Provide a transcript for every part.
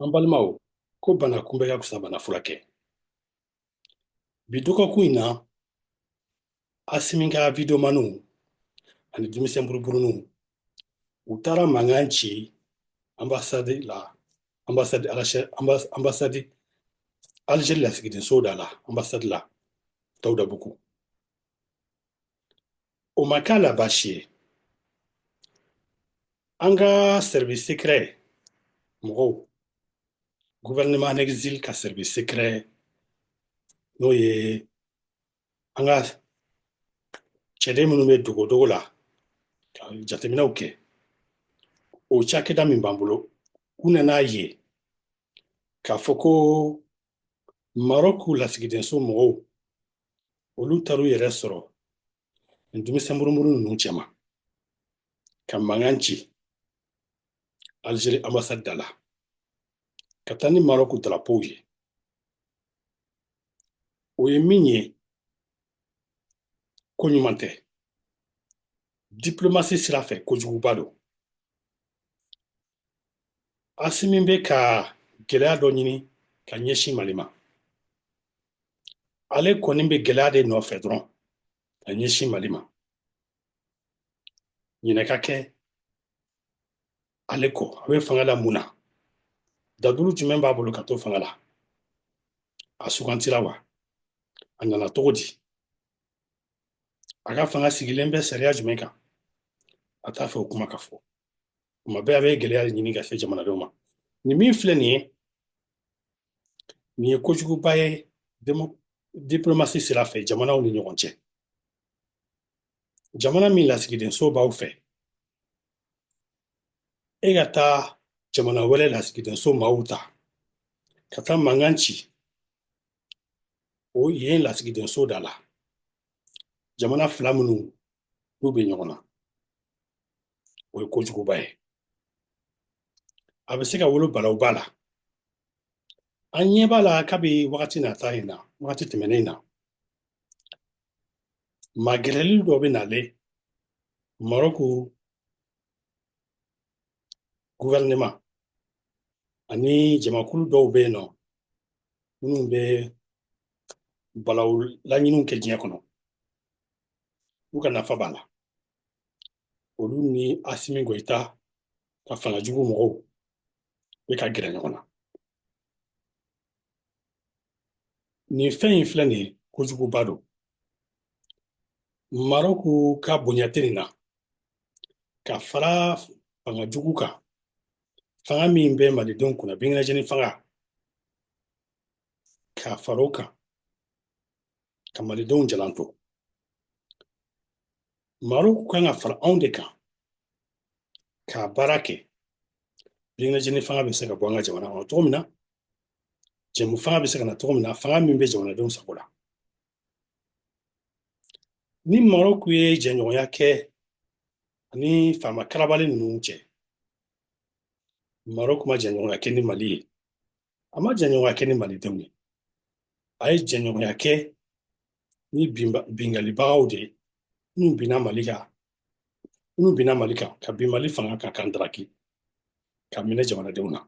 An balimaw ko bana kunbɛn ka fisa bana furakɛ bi dɔgɔkun in na asimi ka wideyomaniw ani denmisɛn buruburuninw u taara mankan ci anbasadi la anbasadi anbasadi alizeri lasigidenso da la anbasadi la dawudabugu o ma k'a la baasi ye an ka service secret mɔgɔw gouvernement en exil ka service secret n'o ye an ka cɛden minnu bɛ dogodogo la ka jateminɛw kɛ o cakɛda min b'an bolo u nan'a ye k'a fɔ ko marɔku lasigidenso mɔgɔw olu taar'u yɛrɛ sɔrɔ nin denmisɛn murumuru ninnu cɛma ka mankan ci algérie ambassade da la ka taa ni marɔku darapow ye o ye min ye ko ɲuman tɛ diplomasi sira fɛ kojuguba don asimi bɛ ka gɛlɛya dɔ ɲini ka ɲɛsin mali ma ale kɔni bɛ gɛlɛya de nɔfɛ dɔrɔn ka ɲɛsin mali ma ɲinɛ ka kɛ ale kɔ a bɛ fanga la mun na dalilu jumɛn b'a bolo ka to fanga la a sugandira wa a nana cogo di a ka fanga sigilen bɛ sariya jumɛn kan a t'a fɛ o kuma ka fɔ tuma bɛɛ a bɛ gɛlɛya de ɲini ka se jamanadenw ma nin min filɛ nin ye nin ye kojuguba ye diplomasi sira fɛ jamanaw ni ɲɔgɔn cɛ jamana min lasigidenso b'aw fɛ e ka taa jamana wɛrɛ lasigidenso maaw ta ka taa mankan ci o yen lasigidenso da la jamana fila minnu n'u bɛ ɲɔgɔn na o ye kojuguba ye a bɛ se ka wolo balawuba la an ɲɛ b'a la kabi wagati nata in na wagati tɛmɛnen in na magɛrɛli dɔ bɛ nale marɔku guvɛrɛnema ani jamakulu dɔw bɛ yen nɔ minnu bɛ balawu laɲini kɛ diɲɛ kɔnɔ u ka nafa b'a la olu ni asimi goyita ka fanga jugu mɔgɔw bɛ ka gɛrɛ ɲɔgɔn na nin fɛn in filɛ nin ye kojuguba don maroku ka bonya tɛ nin na ka fara fanga jugu kan fanga min bɛ malidenw kunna bingilajɛni fanga ka fara o kan ka malidenw jalan to maroku kan ka fara anw de kan ka baara kɛ birinajini fanga bɛ se ka bɔ an ka jamana kɔnɔ cogo min na jɛmu fanga bɛ se ka na cogo min na fanga min bɛ jamanadenw sago la ni maroku ye jɛɲɔgɔnya kɛ ani faama karabali ninnu cɛ maroku ma jɛɲɔgɔnya kɛ ni mali ye a ma jɛɲɔgɔnya kɛ ni malidenw ye a ye jɛɲɔgɔnya kɛ ni binkannibagaw de ye minnu binna mali kan minnu binna mali kan ka bin mali fanga kan k'an daraki k'a minɛ jamanadenw na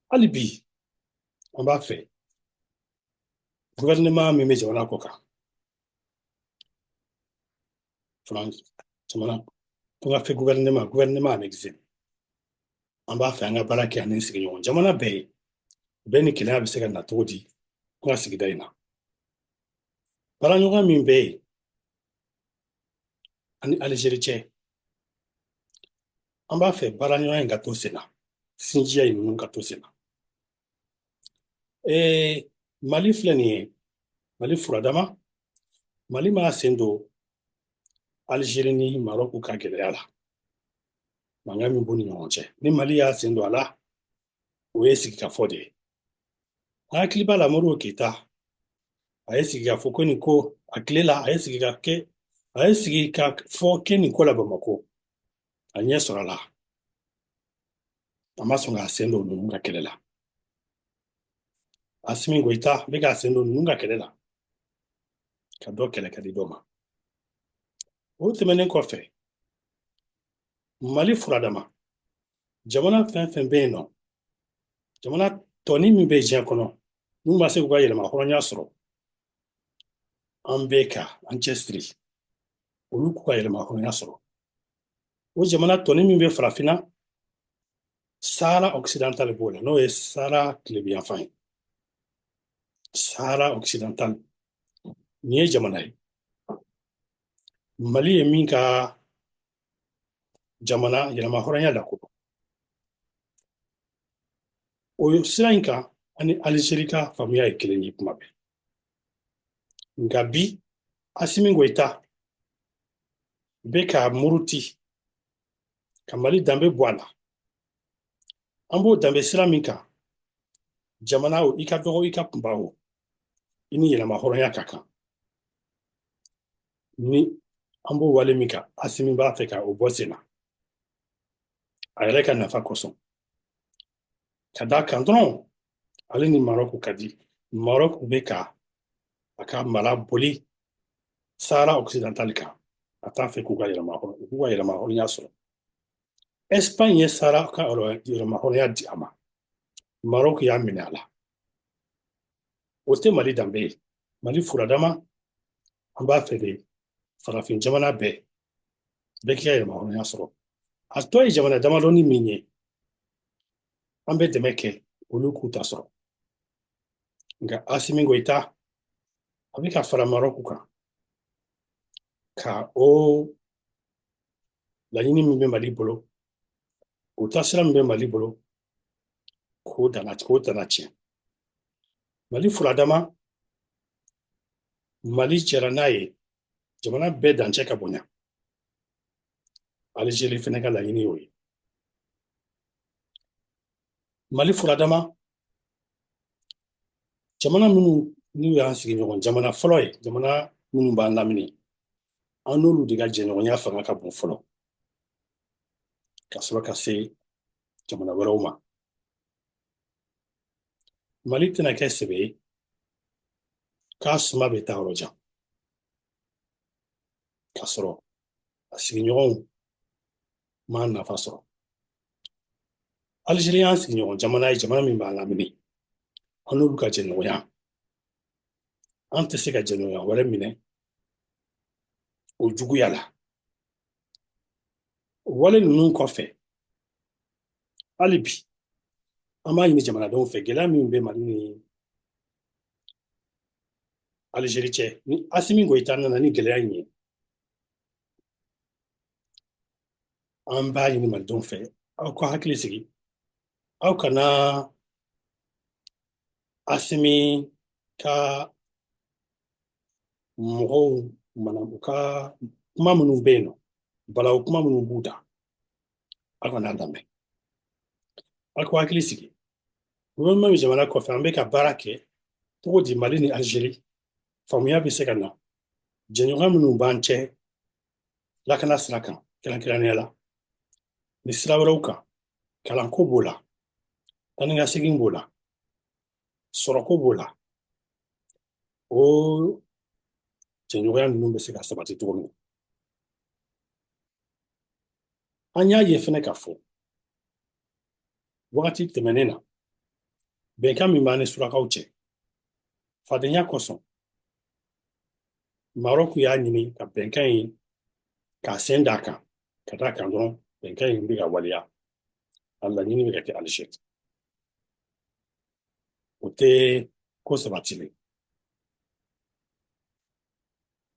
hali bi an b'a fɛ gouvernement min bɛ jamana kɔkan France jamana kɔkan fɛ gouvernement gouvernement en exil an b'a fɛ an ka baara kɛ ani sigiɲɔgɔn jamana bɛɛ ye bɛn ni kelenya bɛ se ka na cogo di an ka sigida in na baaraɲɔgɔn min bɛ an ni alizeri cɛ an b'a fɛ baaraɲɔgɔn in ka to sen na sinjiya in ninnu ka to sen na ee mali filɛ nin ye mali furadama mali m'a sen don alizeri ni marɔku ka gɛlɛya la mankan min b'u ni ɲɔgɔn cɛ ni mali y'a sen don a la o ye sigikafɔ de ye an hakili b'a la modibo keyita a ye sigikafɔ kɛ nin ko a tile la a ye sigika kɛ a ye sigikafɔ kɛ nin ko la bamakɔ a ɲɛ sɔrɔla a ma sɔn k'a sen don ninnu ka kɛlɛ la asimi goyita bɛ k'a sen don ninnu ka kɛlɛ la ka dɔ kɛlɛ ka di dɔ ma o tɛmɛnen kɔfɛ mali furadama jamana fɛn fɛn bɛ yen nɔ jamana tɔnin min bɛ diɲɛ kɔnɔ n'u ma se k'u ka yɛrɛmahɔrɔnya sɔrɔ an bɛ ka an cɛsiri olu k'u ka yɛrɛmahɔrɔnya sɔrɔ o jamana tɔnin min bɛ farafinna sahara occidental b'o la n'o ye sahara tilebinyanfan ye sahara occidental nin ye jamana ye mali ye min ka jamana yɛrɛmahɔrɔnya lakodɔn o sira in kan an ni alizeri ka faamuya ye kelen ye kuma bɛɛ nka bi asimi goyita bɛ ka muruti ka mali danbe bɔ a la an b'o danbe sira min kan jamana o i ka dɔgɔ i ka kunba o i ni yɛrɛmahɔrɔnya ka kan ni an b'o wale min kan asimi b'a fɛ ka o bɔ sen na a yɛrɛ ka nafa kosɔn ka d'a kan dɔrɔn ale ni marɔku ka di marɔku bɛ ka a ka mara boli sahara occidental kan a t'a fɛ k'u ka yɛrɛma u k'u ka yɛrɛmahɔrɔnya sɔrɔ espagne ye sahara ka yɛrɛmahɔrɔnya di a ma marɔku y'a minɛ a la o tɛ mali danbe ye mali furadama an b'a fɛ de farafin jamana bɛɛ bɛɛ k'i ka yɛrɛmahɔrɔnya sɔrɔ a tɔ ye jamana damadɔni min ye an bɛ dɛmɛ kɛ olu k'u ta sɔrɔ nka asimi goyita a bɛ ka fara marɔku kan ka o laɲini min bɛ mali bolo o taasira min bɛ mali bolo k'o dana k'o dana tiɲɛ mali furadama mali jɛra n'a ye jamana bɛɛ dancɛ ka bonya alizeri fɛnɛ ka laɲini y'o ye mali furadama jamana minnu n'u y'an sigiɲɔgɔn jamana fɔlɔ ye jamana minnu b'an lamini an n'olu de ka jɛɲɔgɔnya fanga ka bon fɔlɔ ka sɔrɔ ka se jamana wɛrɛw ma Mali tɛna kɛ sebe ye k'a suma bɛ taa yɔrɔ jan k'a sɔrɔ a sigiɲɔgɔnw m'a nafa sɔrɔ alizeri y'an sigiɲɔgɔn jamana ye jamana min b'an lamini an n'olu ka jɛɲɔgɔnya an tɛ se ka jɛɲɔgɔnya wɛrɛ minɛ o juguya la wale ninnu kɔfɛ hali bi an b'a ɲini jamanadenw fɛ gɛlɛya min bɛ mali ni alizeri cɛ ni asimi goyita nana ni gɛlɛya in ye an b'a ɲini malidenw fɛ aw ka hakili sigi aw kana asimi ka mɔgɔw mana u ka kuma minnu bɛ yen nɔ balawu kuma minnu b'u da Ala kɔni y'a lamɛn a ko hakili sigi gouvernement bɛ jamana kɔfɛ an bɛ ka baara kɛ cogo di mali ni algérie faamuya bɛ se ka na jɛɲɔgɔnya minnu b'an cɛ lakana sira kan kɛrɛnkɛrɛnnenya la ni sira wɛrɛw kan kalanko b'o la taanikasegin b'o la sɔrɔko b'o la o jɛɲɔgɔnya ninnu bɛ se ka sabati cogo min na an y'a ye fɛnɛ k'a fɔ wagati tɛmɛnen na bɛnkan min b'an ni surakaw cɛ fadenya kosɔn marɔku y'a ɲini ka bɛnkan in k'a sen d'a kan ka d'a kan dɔrɔn bɛnkan in bɛ ka waleya a laɲini bɛ ka kɛ alizeri o tɛ ko sabatilen